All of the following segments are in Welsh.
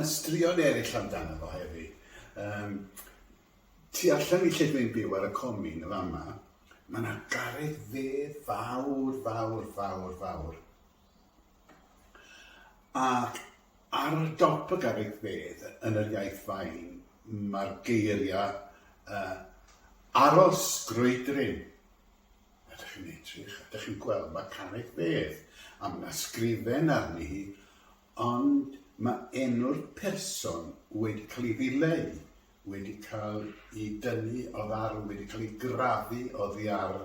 Straeon eraill amdano fo hefyd. Yym tu allan i lle dwi'n byw ar y comin yn fama, ma' 'na garreg fedd fawr fawr fawr fawr, ac ar dop y garreg fedd yn yr iaith fain ma'r geiria yy aros grwydryn. A dych chi'n edrych, a dych chi'n gweld mae carreg fedd, a mae yna sgrifen arni hi, ond mae enw'r person wedi cael ei ddileu, wedi cael ei dynnu oddi ar, wedi cael ei grafu oddi ar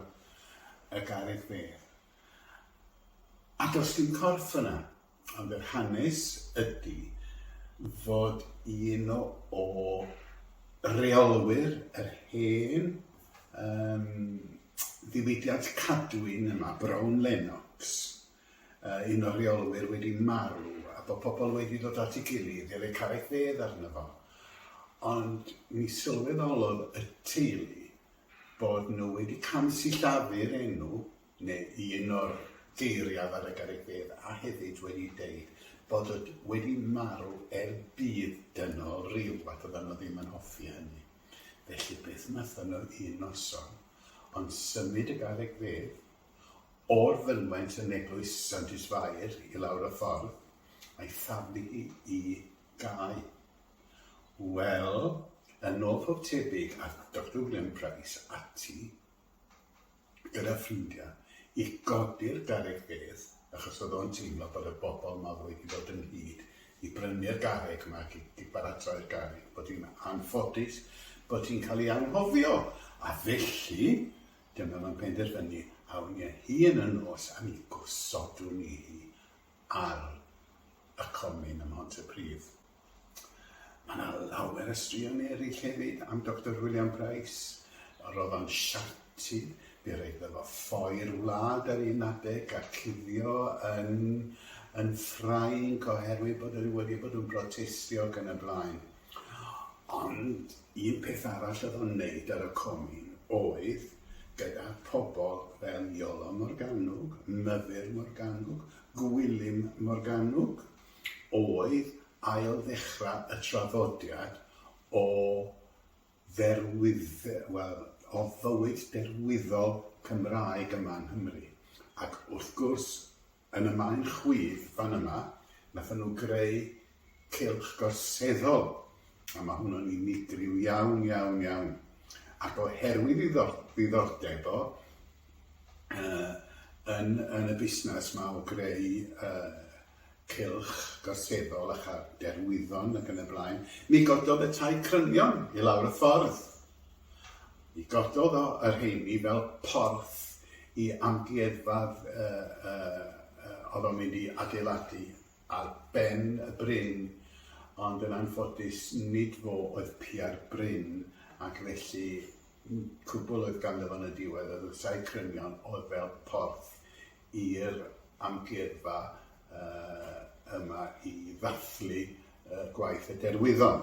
y garreg fedd. A does dim corff yna. Ond yr hanes ydi fod un o reolwyr yr hen yym ddiwydiant cadwyn yma, Brown Lennox, yy un o'r reolwyr wedi marw a bo' pobl wedi dod at ei gilydd i roi carreg fedd arno fo, ond mi sylweddolodd y teulu bod nhw wedi camsillafu'r enw, neu un o'r geiriaf ar y garibedd a hefyd wedi deud bod o wedi marw er budd dynol ryw ac oeddan nhw ddim yn hoffi hynny. Felly beth wnaethon nhw un noson ond symud y garreg fedd o'r fynwent yn eglwys Santes Fair i lawr y ffordd a'i thaflu hi i gae. Wel, yn ôl pob tebyg ath Doctor William Price ati gyda ffrindiau i godi'r garreg fedd achos oedd o'n teimlo bod y bobl 'ma wedi dod ynghyd i brynu'r garreg 'ma ac i baratoi'r garreg bod hi'n anffodus bod hi'n cael ei anghofio a felly dyma fo'n penderfynu awn ni â hi yn y nos a mi gosodwn ni hi ar y comin ym Mhontypridd. Mae 'na lawer o straeon eraill hefyd am Doctor William Price, yr oedd o'n siarty, fe roedd iddo fo ffoi'r wlad ar un adeg a cuddio yn yn Ffrainc oherwydd bod e wedi bod yn brotestio ac yn y blaen. Ond un peth arall oedd o'n neud ar y comin oedd, gyda pobl fel Iolo Morgannwg, Myfyr Morgannwg, Gwilym Morgannwg, oedd ail-ddechrau y traddodiad o dderwydd- wel, o fywyd derwyddol Cymraeg yma yng Nghymru. Ac wrth gwrs, yn y man chwith fan yma, nathon nhw greu cylch gorseddol, a ma' hwnnw'n unigryw iawn, iawn, iawn, ac oherwydd ei ddiddordeb o yn yn y busnes 'ma o greu yy cylch gorseddol a chael derwyddon ac yn y blaen, mi gododd y tai crynion i lawr y ffordd. Mi gododd o y rheini fel porth i amgueddfa oedd o'n mynd i adeiladu ar ben y bryn, ond yn anffodus nid fo oedd piau'r bryn ac felly cwbl oedd ganddo fo yn y diwedd oedd y Sae Crynion oedd fel porth i'r amgueddfa yma i ddathlu gwaith y Derwyddon.